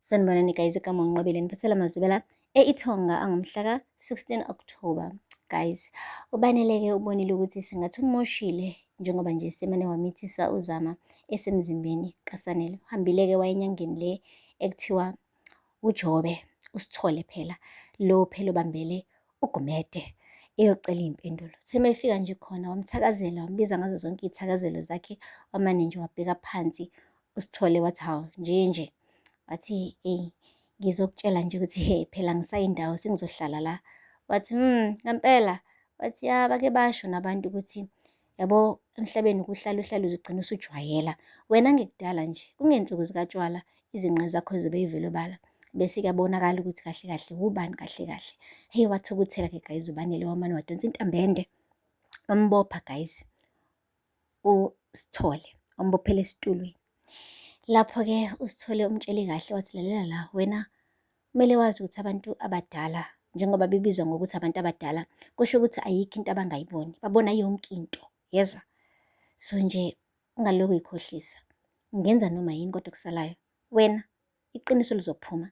Sanibonani guys igama unqobile niphathela amazubela e-ithonga angomhla ka-16 october guys ubaneleke ubonile ukuthi sengathi umoshile njengoba nje semane wamithisa uzama esemzimbeni kasanele uhambile-ke wayenyangeni le ekuthiwa ujobe usithole phela lo phela obambele ugumede eyocela iy'mpendulo seme efika nje khona wamthakazela wambiza ngazo zonke iy'thakazelo zakhe wamane nje wabheka phansi uSithole wathi hawu nje nje wathi eyi ngizokutshela nje ukuthi he phela ngisayindawo sengizohlala la wathi mm ngempela wathi ya bake basho nabantu ukuthi yabo emhlabeni kuhlala uhlala uzigcina usujwayela wena ngekudala nje kungensuku zikatshwala izinqe zakho zibe yivelobala bese kuyabonakala ukuthi kahle kahle wubani kahle kahle hey wathukuthela ke guys ubanele wamane wadonsa intambende wambopha guys uSithole, wambophela esitulweni. Lapho-ke uSithole umtshele kahle wathi, lalela la, wena kumele wazi ukuthi abantu abadala njengoba bebizwa ngokuthi abantu abadala, kusho ukuthi ayikho into abangayiboni, babona yonke into, yezwa? So nje ungalokhu uyikhohlisa, ungenza noma yini kodwa okusalayo wena iqiniso lizophuma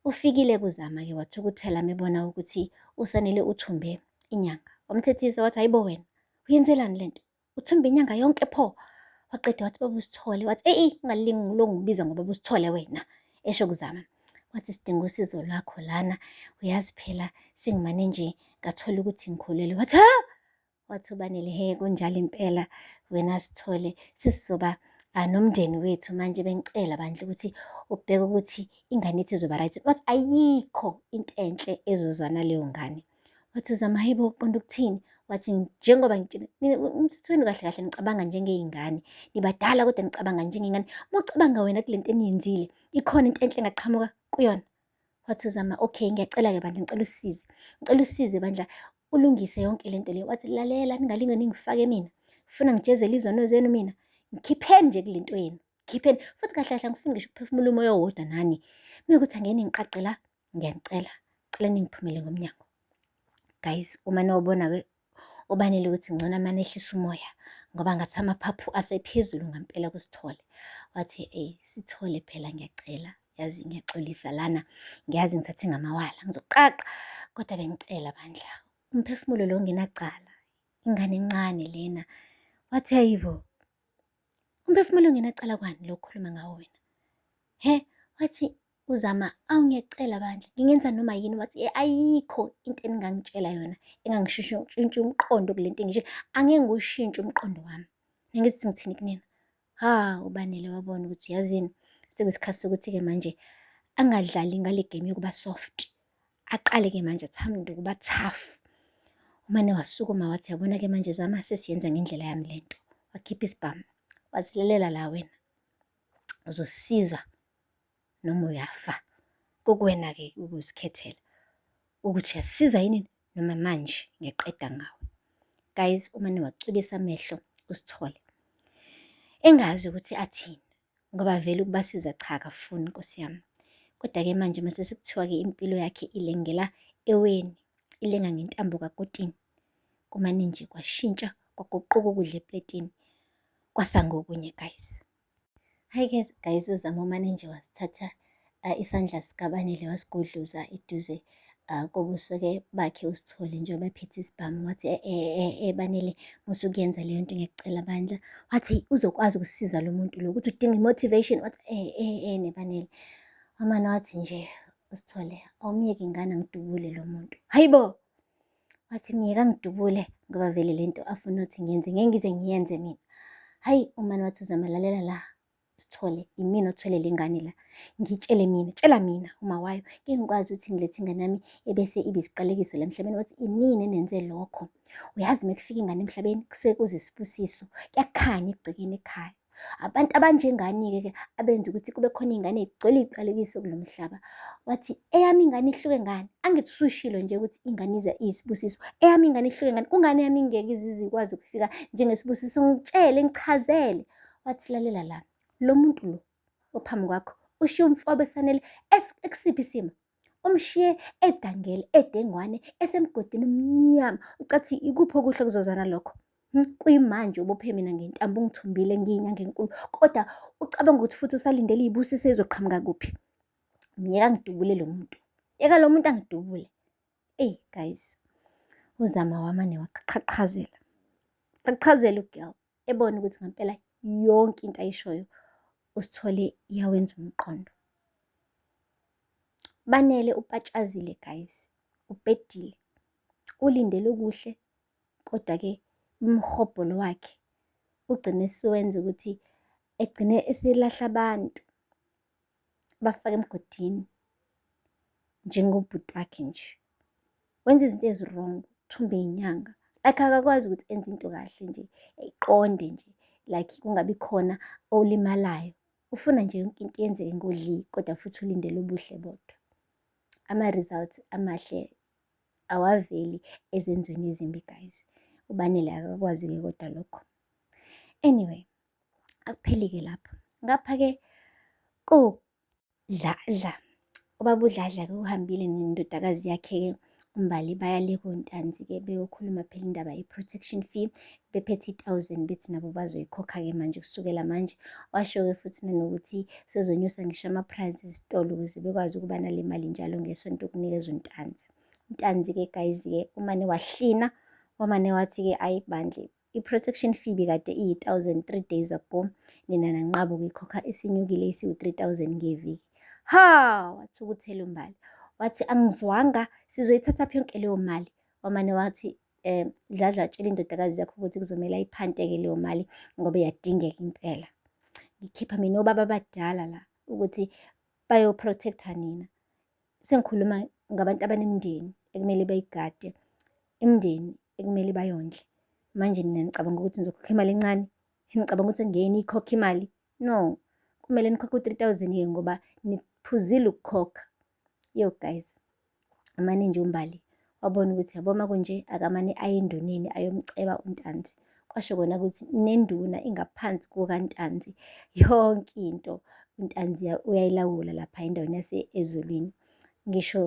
ufikile kuzama-ke wathukuthela mebona ukuthi usanele uthumbe inyanga wamthethisa wathi hayibo wena uyenzelani le nto uthumbe inyanga yonke pho waqeda wathi baba usithole wathi eyi ungalingi lo ngibiza ngoba usithole wena esho kuzama wathi sidinga usizo lwakho lana uyazi phela sengimane nje ngathola ukuthi ngikhulelwe wathi ha wathobanele he kunjalo impela wena sithole sisizoba ah, nomndeni wethu manje bengicela bandla ukuthi ubheke ukuthi ingane yethu izoba right wathi ayikho into enhle ezozana leyo ngane wathi uzama hebo uqonda ukuthini wathi njengoba umthethweni kahle kahle nicabanga njengey'ngane nibadala kodwa nicabanga njengey'ngane uma ucabanga wena kule nto eniyenzile ikhona into enhle engaqhamuka kuyona wathi uzama okay ngiyacela-ke bandla ngicela usize ngicela usize bandla ulungise yonke lento leyo wathi lalela ningalinge ningifake mina funa ngijezele izono zenu mina ngikhipheni nje kule nto yenu ngikhipheni futhi kahle kahle angifuni ngisho ukuphefumula umoya owodwa nani mina ukuthi angeke ningiqaqe la ngiyanicela cela ningiphumele ngomnyango guys uma nobona-ke ubanele ukuthi ngcono amane ehlisa umoya ngoba ngathi amaphaphu asephezulu ngampela kusithole wathi ey sithole phela ngiyacela yazi ngiyaxolisa lana ngiyazi ngithathe ngamawala ngizoqaqa kodwa bengicela bandla umphefumulo lo ngenacala ingane encane lena wathi ayibo umphefumulo ngenacala kwani lokukhuluma ngawo wena he wathi uzama awu ngiyacela bandla ngingenza noma yini wathi e, ayikho into eningangitshela yona engangishintsha umqondo kule nto engisho angeke ngiwushintshe umqondo wami ngithi ngithini kunina Ha, uBanele wabona ukuthi yazini sekuyisikhathi sokuthi-ke manje angadlali ngale game yokuba soft. Aqale-ke manje athamde ukuba tough. Umane wasukuma wathi yabona-ke manje zama sesiyenza ngendlela yami le nto. Wakhipha isibhamu, wazilelela la wena. Uzosiza noma uyafa. Kukuwena-ke ukuzikhethela ukuthi uyasiza yini noma manje ngiyaqeda ngawe. Guys, uma niwacwilisa amehlo usithole engazi ukuthi athini ngoba vele ukubasiza cha akafuni nkosi yami kodwa-ke manje mase sekuthiwa-ke impilo yakhe ilengela eweni ilenga ngentambo kakotini kumane nje kwashintsha kwaguquka ukudla epletini kwasangokunye guys Hi guys, guys uZama umane nje wasithatha uh, isandla sikaBanele wasigodluza eduze uh, kobuso-ke bakhe usithole njengoba ephethe isibhamu wathi e, e, e, eBanele musukuyenza leyo nto ngiyacela bandla wathi uzokwazi ukusiza lo muntu lo ukuthi udinga i-motivation wathi e, e, e, neBanele amane wathi nje usithole awumyeke ingane ngidubule lo muntu hayi bo wathi myeka ngidubule ngoba vele le nto afuna ukuthi ngiyenze ngeke ngize ngiyenze mina hhayi umani wathi uzama lalela la sithole yimina othwele le ngane la ngitshele mina tshela mina uma wayo ngeke ngikwazi ukuthi ngilethe ingane yami ebese ibe isiqalekiso la emhlabeni wathi inini enenze lokho uyazi uma kufika ingane emhlabeni kusuke kuze isibusiso kuyakhanya ekugcekeni ekhaya Abantu abanjengani-ke ke abenza ukuthi kube khona iy'ngane y'gcwele iy'qalekiso kulo mhlaba. Wathi eyami ingane ihluke ngani? Angithi usushilo nje ukuthi ingane iza iyisibusiso. Eyami ingane ihluke ngani? Kungani eyami ingeke izize ikwazi ukufika njengesibusiso? Ngitshele, ngichazele. Wathi lalela la, lo muntu lo ophambi kwakho ushiye umfobe esanele ekusiphi isimo? Umshiye edangele edengwane esemgodini omnyama. Ucathi ikuphi okuhle kuzozana lokho? Hmm, kuyimanje ubophe mina ngentambo ungithumbile ngiyinyanga enkulu kodwa ucabanga ukuthi futhi usalindele iy'busiso ezoqhamuka kuphi? Myeka ngidubule lo muntu. Yeka lo muntu angidubule. Eyi guys, uzama wamane waqhaqhazela. Qhaqhazela ugirl. ebone ukuthi ngampela yonke into ayishoyo usithole iyawenza umqondo banele upatshazile guys ubhedile ulindele okuhle kodwa-ke umhobholo wakhe ugcine siwenza ukuthi egcine eselahla abantu bafake emgodini njengobhuti wakhe nje wenza izinto ezi-wrong thumbe inyanga like akakwazi ukuthi enze into kahle nje eqonde nje like kungabi khona olimalayo ufuna nje yonke into yenzeke ngodli kodwa futhi ulindele ubuhle bodwa ama-results amahle awaveli ezenzweni ezimbi guys ubanele akakwazi-ke kodwa lokho anyway Akupheli-ke lapho. Ngapha-ke kodladla, ubaba uDladla-ke uhambile nendodakazi yakhe-ke uMbali baya le kontanzi-ke beyokhuluma phela indaba ye-protection fee bephethe i-thousand bethi nabo bazoyikhokha-ke manje kusukela manje. Washo-ke futhi nanokuthi sezonyusa ngisho ama-price ezitolo ukuze bekwazi ukuba nale mali njalo ngesonto ukunikezwa untanzi. Untanzi-ke guys-ke umane wahlina, wamane wathi-ke ayi bandla I-protection fee bikade iyi-1000 3 days ago, nina nanqaba ukuyikhokha isinyukile isiwu-3000 ngeviki. Ha! wathukuthela uMbali. Wathi angizwanga sizoyithatha phi yonke leyo mali. Wamane wathi um Dladla tshela indodakazi yakho ukuthi kuzomele ayiphanteke leyo mali ngoba iyadingeka impela. Ngikhipha mina obaba abadala la ukuthi bayoprotecta nina. sengikhuluma ngabantu abanemindeni ekumele bayigade, imindeni ekumele bayondle. Manje nina nicabanga ukuthi nizokhokha imali encane? Nicabanga ukuthi ngeke niyikhokhe imali? No, kumele nikhokhe u-three thousand ke ngoba niphuzile ukukhokha. Yo guys, amane nje uMbali wabona ukuthi yabo uma kunje akamane aye enduneni ayomceba uNtanzi kwasho kona ukuthi nenduna ingaphansi kukaNtanzi yonke into uNtanzi uyayilawula lapha endaweni yase-ezulwini ngisho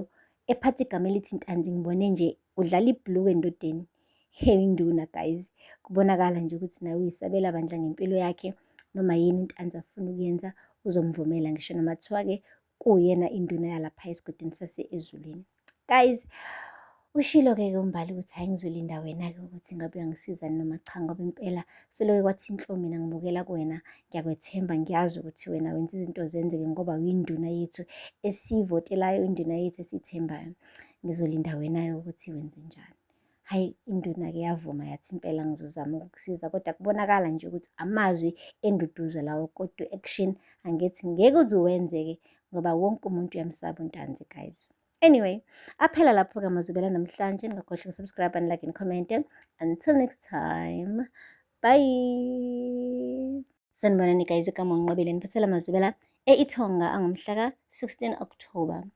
ephatha igama elithi Ntanzi ngibone nje udlala ibhuluku endodeni hey induna guys kubonakala nje ukuthi nawe uyisabela bandla ngempilo yakhe noma yini uNtanzi afuna ukuyenza uzomvumela ngisho noma kuthiwa-ke kuwuyena induna yalapha esigodini sase-ezulwini guys ushilo-ke ke umbali ukuthi hhayi ngizolinda wena-ke ukuthi ngabe uyangisiza noma cha ngoba impela seloke kwathi inhlo mina ngibukela kuwena ngiyakwethemba ngiyazi ukuthi wena wenza izinto zenzeke ngoba uyinduna yethu esiyivotelayo induna yethu esiyithembayo ngizolinda wena-ke ukuthi wenze njani hhayi induna-ke yavuma yathi impela ngizozama ukukusiza kodwa kubonakala nje ukuthi amazwi enduduzo lawo kodwa action angithi ngeke uze wenzeke ngoba wonke umuntu uyamsaba untanzi guys anyway aphela lapho-ke amazubela namhlanje ningakhohlwa ukusubscribe and like and comment until next time bye sanibonani guys ekamonqobile niphathela amazubela e-ithonga angomhla ka-16 october